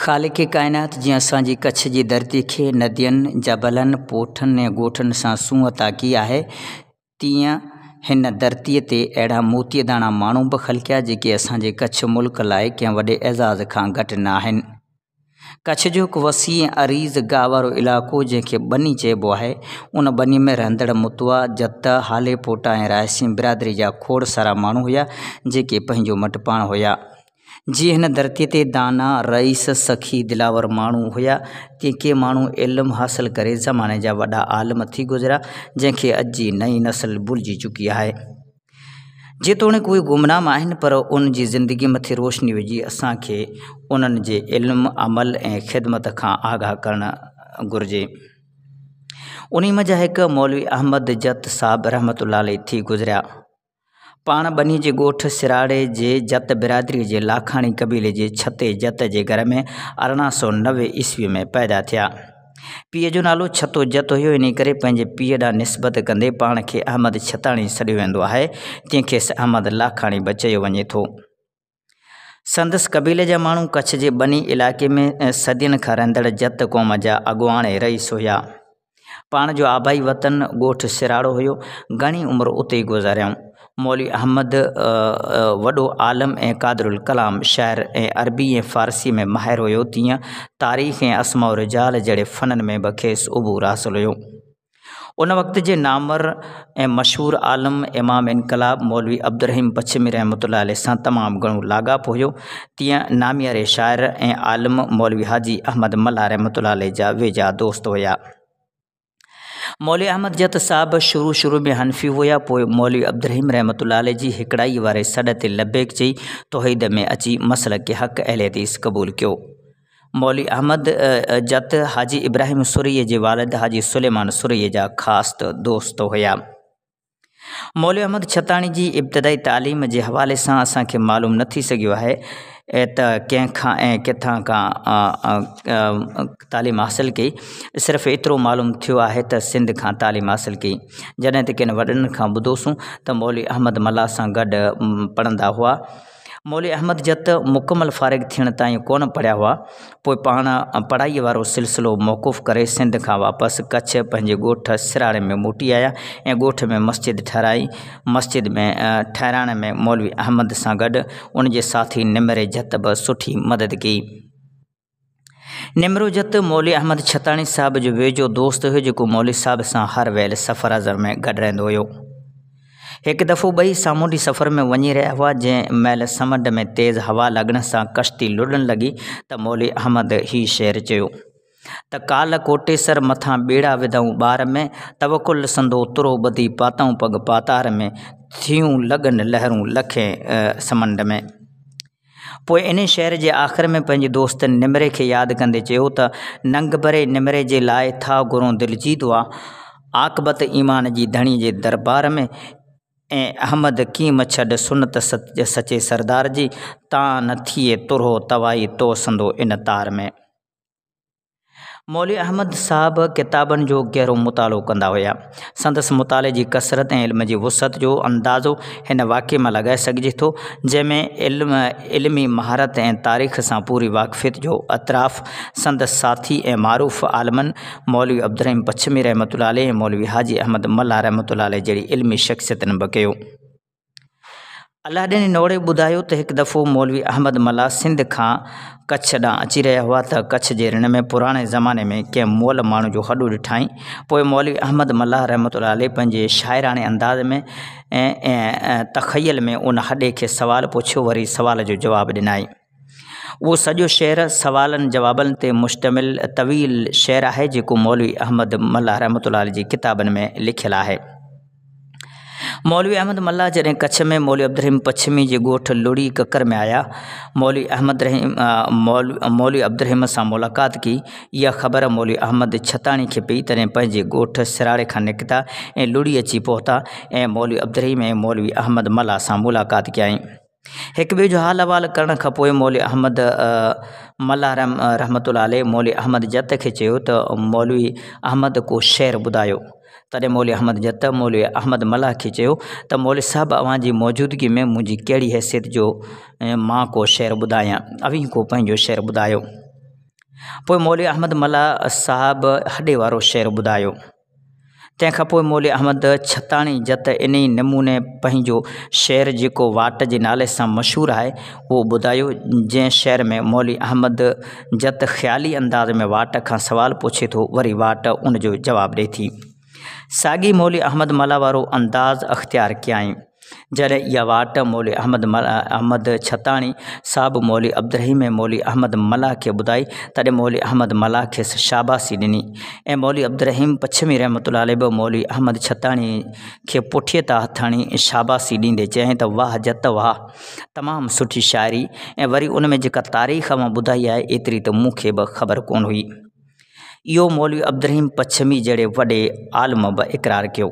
خالق ڪائنات جنهن اسان جي ڪڇ جي ڌرتي کي ندين، جبلن، پوٺن ۽ ڳوٺن سان سونهن عطا ڪئي آهي، تيئن هن ڌرتي تي اهڙا موتي داڻا ماڻهو به خلقيا جيڪي اسان جي ڪڇ ملڪ لاء ڪنهن وڏي اعزاز کان گهٽ نه آهن. ڪڇ جو هڪ وسيع ۽ عريض گاهه وارو علائقو جنهن کي ٻني چئبو آهي، ان ٻني ۾ رهندڙ متوا، جت، هالي پوٽا ۽ رائسين برادري جا کوڙ سارا ماڻهو هيا، جيڪي پنهنجو مٽ پاڻ هيا. جيئن هن ڌرتيء تي داناء، رئيس، سخي، دلاور ماڻهو هيا، تيئن ڪي ماڻهو علم حاصل ڪري زماني جا وڏا عالم ٿي گذريا، جنهن کي اڄ جي نئين نسل ڀلجي چڪي آهي. جيتوڻيڪ اهي گمنام آهن پر انهن جي زندگي مٿي روشني وجهي اسان کي انهن جي علم، عمل ۽ خدمت کان آگاهه ڪرڻ گهرجي. انهي منجهان هڪ مولوي احمد جت صاحب رحمة الله عليه ٿي گذريا. پاڻ ٻنهي جي ڳوٺ سراڙي جي جت برادري جي لاکاڻي قبيلي جي ڇتي جت جي گهر ۾ ارڙهن سؤ نوي عيسوي ۾ پيدا ٿيا. پيء جو نالو ڇتو جت هيو، انهيء ڪري پنهنجي پيء ڏانهن نسبت ڪندي پاڻ کي احمد ڇتاڻي سڏيو ويندو آهي، جنهن کي احمد لاکاڻي به چيو وڃي ٿو. سندس قبيلي جا ماڻهو ڪڇ جي ٻني علائقي ۾ صدين کان رهندڙ جت قوم جا اڳواڻ ۽ رئيس هيا. پاڻ جو آبائي وطن ڳوٺ سراڙو هيو. گهڻي عمر اتي ئي گذاريائون. مولوي احمد وڏو عالم ۽ قادر الڪلام شاعر ۽ عربي ۽ فارسيء ۾ ماهر هيو تيئن تاريخ ۽ اسماء الرجال جهڙي فنن ۾ به کيس عبور حاصل هيو. ان وقت جي نامور ۽ مشهور عالم امام انقلاب مولوي عبدالرحيم پڇمي رحمة الله عليه سان تمام گهڻو لاڳاپو هيو تيئن نامياري شاعر ۽ عالم مولوي حاجي احمد ملاح رحمة الله عليه جا ويجها دوست هيا. مولوي احمد جت صاحب شروع شروع ۾ حنفي هيا پوء مولوي عبدالرحيم رحمة الله عليه جي هيڪڙائيء واري سڏ تي لبيڪ چئي توحيد ۾ اچي مسلڪ حق اهل حديث قبول ڪيو. مولوي احمد جت حاجي ابراهيم سرهيء جي والد حاجي سليمان سرهيء جا خاص دوست هيا. مولوي احمد ڇتاڻي جي ابتدائي تعليم جي حوالي سان اسان کي معلوم نه ٿي سگهيو آهي ته ڪنهن کان ۽ ڪٿان کان تعليم حاصل ڪئي صرف ايترو معلوم ٿيو آهي ته سنڌ کان تعليم حاصل ڪئي جڏهن ته ڪن وڏن کان ٻڌوسون ته مولوي احمد ملاح سان گڏ پڙهندا هئا مولوي احمد جت مڪمل فارغ ٿيڻ تائين ڪونه پڙهيا هئا، پوء پاڻ پڙهائيء وارو سلسلو موقوف ڪري سنڌ کان واپس ڪڇ پنهنجي ڳوٺ سراڙي ۾ موٽي آيا ۽ ڳوٺ ۾ مسجد ٺهرائي. مسجد ۾ ٺهرائڻ ۾ مولوي احمد سان گڏ ان جي ساٿي نمري جت به سٺي مدد ڪئي. نمروجت مولوي احمد ڇتاڻي صاحب جو ويجهو دوست هيو جيڪو مولوي صاحب سان هر ويل سفر ازر ۾ گڏ رهندو هيو. هڪ دفعو ٻئي سامونڊي سفر ۾ وڃي رهيا هئا جنهن مهل سمنڊ ۾ تيز هوا لڳڻ سان ڪشتي لڙهڻ لڳي ته مولوي احمد هي شعر چيو ته ڪال ڪوٽيسر مٿان ٻيڙا وڌئون ٻار ۾ توڪل سندو ترو ٻڌي پاتئون پڳ پاتار ۾ ٿيون لڳن لهرون لکين سمنڊ ۾. پوء انهيء شعر جي آخر ۾ پنهنجي دوست نمري کي ياد ڪندي چيو ته، ننگ بري نمري جي لاء ٿا گهرون دل جي دعا، عاقبت ايمان جي ڌڻي جي دربار ۾، اي احمد ڪين مڇڏ سنت سچي سردار جي، تان نه ٿئي ترهو توائي توسندو ان تار ۾. مولوي احمد صاحب ڪتابن جو گهرو مطالعو ڪندا هيا. سندس مطالعي جي ڪثرت ۽ علم جي وسعت جو اندازو هن واقعي مان لڳائي سگهجي ٿو، جنهن ۾ علم، علمي مهارت ۽ تاريخ سان پوري واقفيت جو اعتراف سندس ساٿي ۽ معروف عالمن مولوي عبدالرحيم پڇمي رحمة الله عليه ۽ مولوي حاجي احمد ملاح رحمة الله عليه جهڙي علمي شخصيتن به ڪيو. الاڏين جي نوڙي ٻڌايو ته هڪ دفعو مولوي احمد ملاح سنڌ کان ڪڇ ڏانهن اچي رهيا هئا ته ڪڇ جي رڻ ۾ پراڻي زماني ۾ ڪنهن مئل ماڻهو جو هڏو ڏٺائين. پوء مولوي احمد ملاح رحمة الله عليه پنهنجي شاعراڻي انداز ۾ ۽ تخيل ۾ ان هڏي کي سوال پڇيو وري سوال جو جواب ڏنائين. اهو سڄو شعر سوالن جوابن تي مشتمل طويل شعر آهي جيڪو مولوي احمد ملاح رحمت الله عليه جي ڪتابن ۾ لکيل آهي مولوي احمد ملاح جڏهن ڪڇ ۾ مولوي عبدالرحيم پڇمي جي ڳوٺ لڙي ڪڪر ۾ آيا مولوي احمد رحيم مولوي عبدالرحيم سان ملاقات ڪي اها خبر مولوي احمد ڇتاڻي کي پئي تڏهن پنهنجي ڳوٺ سراڙي کان نڪتا ۽ لڙي اچي پهتا ۽ مولوي عبدالرحيم ۽ مولوي احمد ملاح سان ملاقات ڪيائين هڪ ٻئي جو حال احوال ڪرڻ کان پوء مولوي احمد ملاح رحمة الله عليه مولوي احمد جت کي چيو ته مولوي احمد ڪو شعر ٻڌايو. تڏهن مولوي احمد جت مولوي احمد ملاح کي چيو ته مولوي صاحب اوهان جي موجودگي ۾ منهنجي ڪهڙي حيثيت جو مان ڪو شعر ٻڌايان؟ اوهين ڪو پنهنجو شعر ٻڌايو. پوء مولوي احمد ملاح صاحب هڏي وارو شعر ٻڌايو. تنهن کان پوء مولوي احمد ڇتاڻي جت انهي نموني پنهنجو شعر جيڪو واٽ جي نالي سان مشهور آهي اهو ٻڌايو، جنهن شعر ۾ مولوي احمد جت خيالي انداز ۾ واٽ کان سوال پڇي ٿو وري واٽ ان جو جواب ڏئي ٿي. ساڳي مولوي احمد ملاح وارو انداز اختيار ڪيائين. جڏهن اها واٽ مولوي احمد احمد ڇتاڻي صاحب مولوي عبدالرحيم ۽ مولوي احمد ملاح کي ٻڌائي، تڏهن مولوي احمد ملاح کيس شاباسي ڏني ۽ مولوي عبدالرحيم پڇمي رحمة الله عليه به مولوي احمد ڇتاڻي کي پٺيء تان هٿ هڻي شاباسي ڏيندي چيائين ته واهه جت واهه، تمام سٺي شاعري ۽ وري ان ۾ جيڪا تاريخ اوهان ٻڌائي آهي، ايتري ته مون کي به خبر ڪونه هئي. اهو مولوي عبدالرحيم پڇمي جهڙي وڏي عالم به اقرار ڪيو.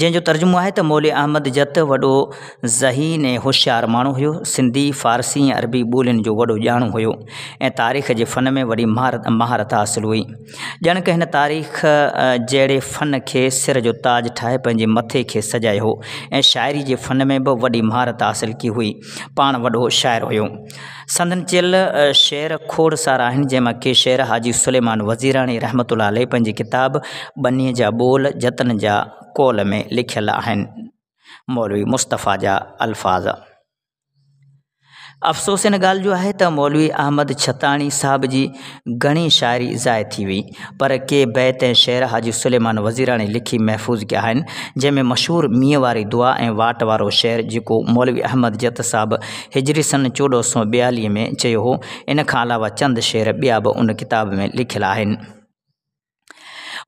جنهن جو ترجمو آهي ته مولوي احمد جت وڏو ذهين ۽ هوشيار ماڻهو هيو، سنڌي، فارسي ۽ عربي ٻولين جو وڏو ڄاڻو هيو ۽ تاريخ جي فن ۾ وڏي مهارت حاصل هئي. ڄڻڪ هن تاريخ جهڙي فن کي سر جو تاج ٺاهي پنهنجي مٿي کي سجايو هو ۽ شاعري جي فن ۾ به وڏي مهارت حاصل ڪئي هئي. پاڻ وڏو شاعر هيو. سندن چيل شعر کوڙ سارا آهن، جنهن مان ڪي شعر حاجي سليمان وزيراڻي رحمة الله عليه پنهنجي ڪتاب ٻنيء جا ٻول جتن جا قول ۾ لکيل آهن. مولوي مصطفيٰ جا الفاظ. افسوس ان ڳالهه جو آهي ته مولوي احمد ڇتاڻي صاحب جي گهڻي شاعري ضايع ٿي وئي، پر ڪي بيت ۽ شعر حاجي سليمان وزيراڻي لکي محفوظ ڪيا آهن، جنهن ۾ مشهور مينهن واري دعا ۽ واٽ وارو شعر جيڪو مولوي احمد جت صاحب هجري سن چوڏهن سؤ ٻياليهه ۾ چيو هو، ان کان علاوه چند شعر ٻيا به ان ڪتاب ۾ لکيل آهن.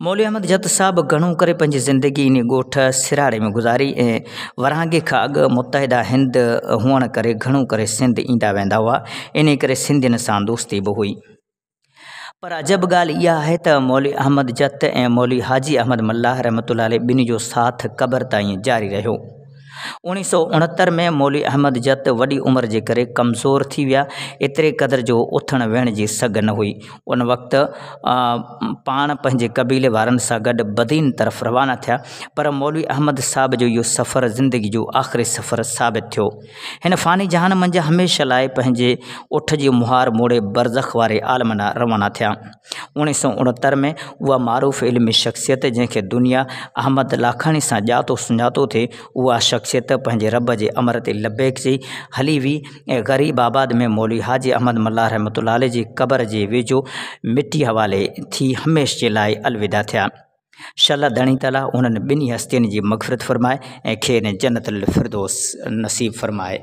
مولوي احمد جت صاحب گهڻو ڪري پنهنجي زندگي انهي ڳوٺ سراڙي ۾ گذاري ۽ ورهاڱي کان اڳ متحده هند هئڻ ڪري گهڻو ڪري سنڌ ايندا ويندا هئا، انهي ڪري سنڌين سان دوستي به هئي. پر عجب ڳالهه اها آهي ته مولوي احمد جت ۽ مولوي حاجي احمد ملاح رحمة الله عليه ٻنهي جو ساٿ قبر تائين جاري رهيو. اوڻيهه سؤ اڻهتر ۾ مولوي احمد جت وڏي عمر جي ڪري ڪمزور ٿي ويا، ايتري قدر جو اٿڻ ويهڻ جي سگهه نه هئي. ان وقت پاڻ پنهنجي قبيلي وارن سان گڏ بدين طرف روانا ٿيا، پر مولوي احمد صاحب جو اهو سفر زندگي جو آخري سفر ثابت ٿيو. هن فاني جهان منجهه هميشه لاء پنهنجي اٺ جي مهار موڙي برزخ واري عالم ڏانهن روانا ٿيا. اوڻيهه سؤ اڻهتر ۾ اها معروف علمي شخصيت جنهن کي دنيا احمد لاکاڻي سان ڄاتو سڃاتو ٿي، اها شخصيت پنهنجي رب جي امر تي لبيڪ چئي هلي وئي ۽ غريب آباد ۾ مولوي حاجي احمد ملاح رحمة الله عليه جي قبر جي ويجهو مٽي حوالي ٿي هميشھ جي لاء الوداع ٿيا. شل الله ڌڻي تعاليٰ انهن ٻنهي هستين جي مغفرت فرمائي ۽ کين جنت الفردوس نصيب فرمائي.